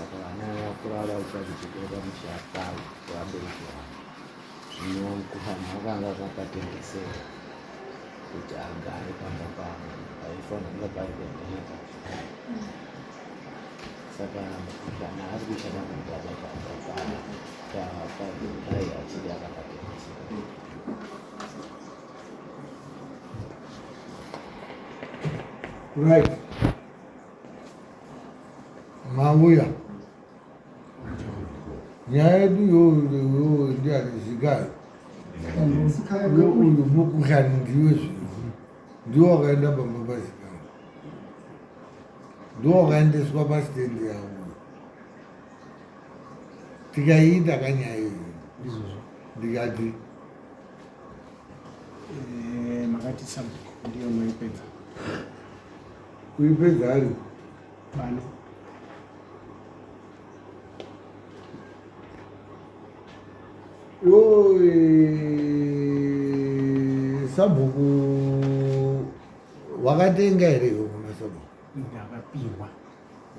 saka vana vakura vaita zvichikoro mushata vabereki vavo zvino kufana vakanga vakatengesera kuti agare pamba pavo paifanira pari kuoneka saka kana ari kushanda kubaba pamba pavo paai achiri akakatengesera Right. mauya nyaya yedu iyoyo ndiani zigai uyu mukuhlani ndiwe zvinhu ndiwo wakaenda pamba pazigai ndiwo wakaendeswa pasitendi yavo tikaiita kanyaya iyi ndikati eh, makati sabhuku ndiyo maipedza kuipedza ari pano sabhuku wakatenga here iwe kuna sabhuku ndakapiwa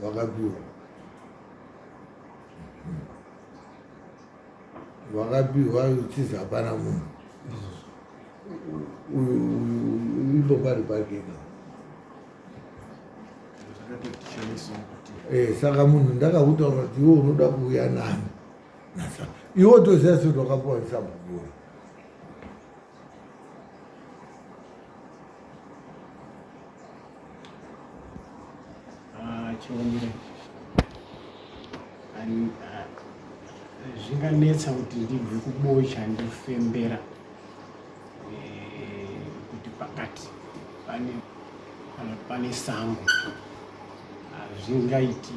wakapiwa vakapihwa uchizi hapana munhu uyu ipo pari pake ka eh, saka munhu ndakakutaura kuti iwe unoda kuuya nani iwe toziva sekuti wakapuwa sabhukuru chomire ah, zvinganetsa kuti ndibve kubocha ndifembera eh, kuti pakati pane pane sango hazvingaiti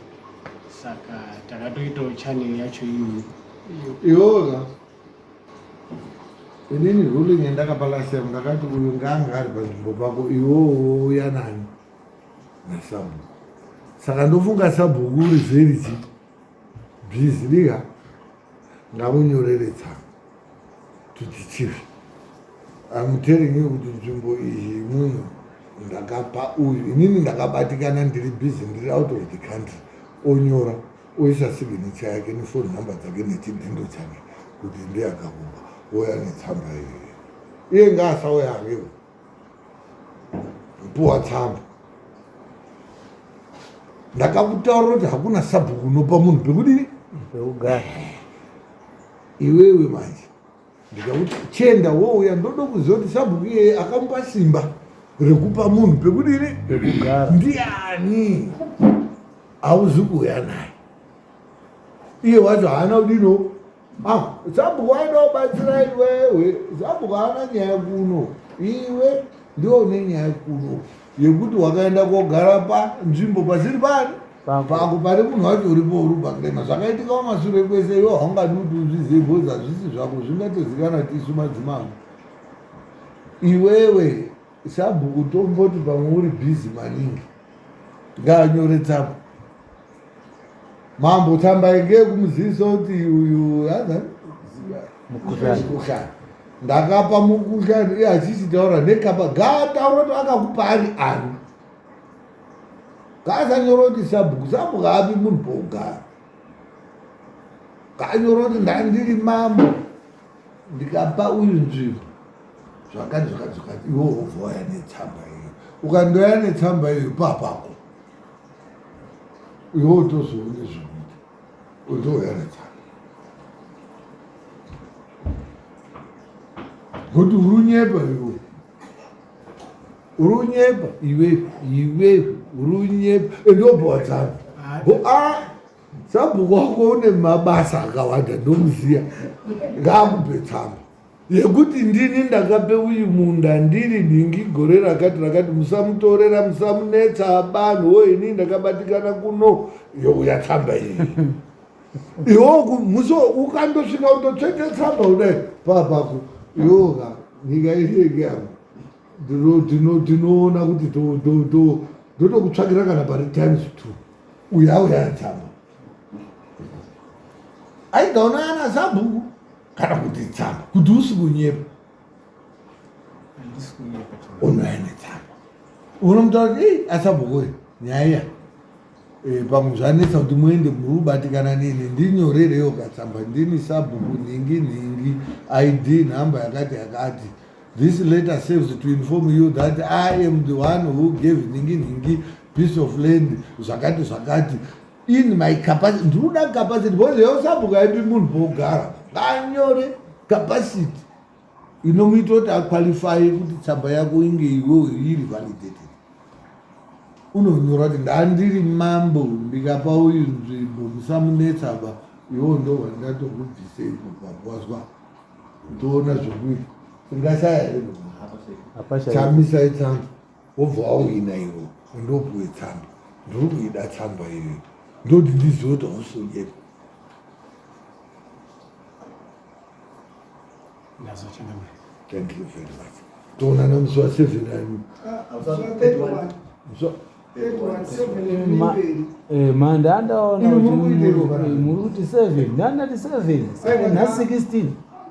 saka takatoitawo chanel yacho iyi iyoga inini ruling yandakapa last time ndakati uyu ngaanga ari panzvimbo pako iwowo uya nani nasabhuku saka ndofunga sabhuku uri zeriti bhizi liga ngamunyorere tsanga kuti chivi amuteringi kuti nzvimbo iyi muno ndakapa uyu inini ndakabatikana ndiri bhizi ndiri out of the country onyora oisa siginicha yake nefoni nhamba dzake nechidhindo chake kuti ndiye akakuba oya netsamba iyoyo iye ngaasauya akewo puwa tsamba ndakakutaura kuti hakuna sabhuku unopa munhu pekudini pekugara iwewe manje ndikakuti chenda wouya ndoda kuziva kuti sabhuku iyeye akamupa simba rekupa munhu pekuti ini rekugara ndiani hauzi kuuya naye iye wacho haana kudino ah, sabhuku aida kubatsira iwewe sabhuku haana nyaya kuno iwe ndiwo une nyaya kuno yekuti wakaenda kogara panzvimbo pasiri pari pako pari munhu wacho uripo uri pakrema zvakaitika wamasure kwese iwo haungadi kuti uzvizive bhozi hazvisi zvako zvingatozikana kuti isu madzimambo iwewe sabhuku tomboti pamwe uri bhizi maningi ngaanyore tsapo Mambo tambai ngeye kumuziviso kuti uyu yaza mukushani ndakapa mukushani iye achishitaura nekapa gaataura kuti akakupa ari ani kaasanyora kuti sabhuku sabhuku api munhu pogara kaanyora kuti ndandiri mambo ndikapa uyu nzvimbo zvakati zvakati zvakati iwo wobva waya netsamba iyo ukandoya netsamba iyo papako iwe utozoone zvekuita utoheredzana kuti uri unyepa iwe uri unyepa iwe iwe uri unyepa endobhowadzana sabhuku wako une mabasa akawanda ndomuziya ngaakupe tsamba yekuti ndini ndakape uyu munda ndiri nhingi gore rakati rakati musamutorera musamunetsa abanhu wo ini ndakabatikana kuno youya tsamba iyi iwoku musi ukandosvika utotsvete tsamba kudai papako yoka nyika iseke amo tinoona kuti ndotokutsvakira kana pari times two uya uya tsamba aigaona ana sabhuku kana kuti tsamba kuti usi kunyepa unouya netsamba unomutaura kuti ei asabhokore nyaya iya eh, pamwe zvanetsa kuti muende murubatikana nini ndinyorereyo katsamba ndini sabhuku nhingi nhingi id nhamba yakati yakati this letter saves to inform you that i am the one who gave nhingi nhingi piece of land zvakati zvakati in my capacity ndinoda capacity because yosabhuka yepi munhu pogara nganyore capacity inomuita kuti aqualify kuti tsamba yako inge iwe iri validated unonyora kuti ndandiri mambo ndikapa uyu nzvimbo musamunetsa ba iwo ndo wandatokubvisei kubvabwazwa ndoona zvekuita tingashaya here chamisa itsamba wobva wauina iwo undopuwe tsamba ndiri kuida tsamba iyoyo ndoti ndizive kuti hausonyepa thank you very much toonana musi wa seven ani ma ndandaona kuti muri kuti seven ndandati seven seven na sixteen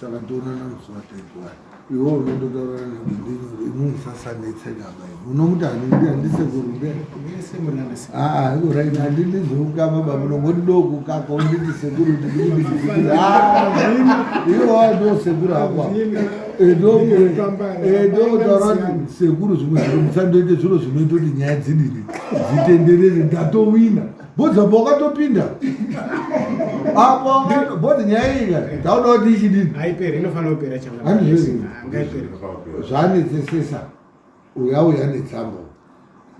saka tonana musi wataigwara iwo unondotaura nemunhu sasanetsenaba unomuti handisekurumbeauraina handindizokukama bamuno ngoti dokukaka unditi sekuru iwowa ndo sekuru akwa ndotaura kuti sekuru zvimwe zviro musandoite zviro zvinoita kuti nyaya dzidini dzitenderere ndatowina budza pa wakatopinda apo bodzi nyaya iyi ka tauda kuti ichidini haiperi inofanira kupera changaizvanetsesesa uya uya netsamba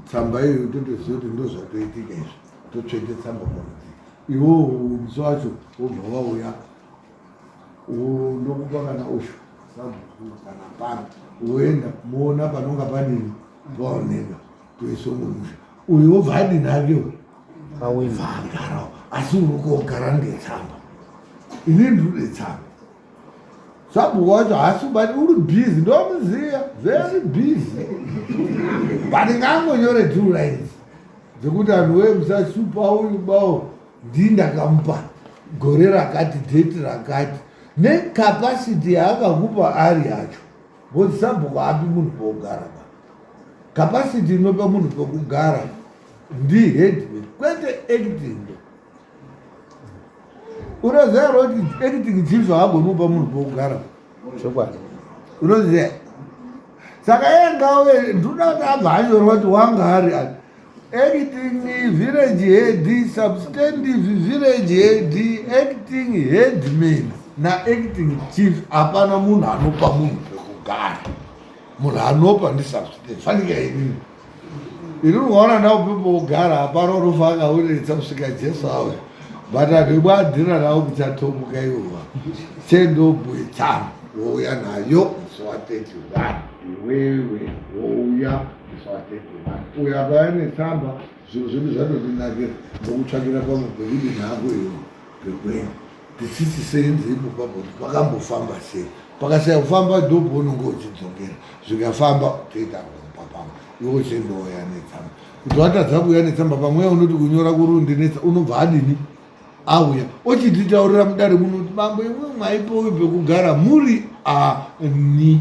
tsamba iyo totoziva kuti ndozvatoitika izvi totsvete tsamba murudzi iwo musi wacho wobva wauya ndokupa kana usho sabhuku kana pano woenda moona panonga panini paoneka kuesongomusha uyu obva adini ake uyu vaagarawo asi urikogara ndetsamba ini ndirude tsamba sabhuku wacho haasi kubati uri busy ndomuziva very busy but ngaangonyore two lines dzekuti anhu wee musasupa uyu bawo ndii ndakamupa gore rakati date rakati necapacity yaakakupa ari yacho Because sabhuku haapi munhu pokugara ba. Capacity inopa munhu pokugara ndi headman kwete acting. Unoziva kuti acting chief haagoni kupa munhu pokugara. Chokwadi. Unoziva. Saka yeye ngawe ndinoda kuti abva anyorwa kuti wanga ari Acting village head, substantive village head, acting headman na acting chief. Hapana munhu anopa munhu pekugara, munhu anopa ndi substantive. Fanika ini ini unoona ndau pepogara hapana unofa akauritsa kusvika Jesu awe but andibwadhira nawo kuchatomuka iwova chendobwe tsano wouya nayo musi wa 31 iwewe wouya uyo akauya netsamba zvinhu zvedu zvatondinakira ndokutsvakira pamwe pekuti nhako iyo pekwenyu tisisi seenzi ipopa kuti pakambofamba sei pakasaya kufamba ndobho unonge uchidzokera zvikafamba toita kupa pamwe iwe uchindouya netsamba kuti watadza kuuya netsamba pamweya unoti kunyora kurundi netsa unobva adini auya ochititaurira mudare munoti mambo imwe mwaipowi pekugara muri ani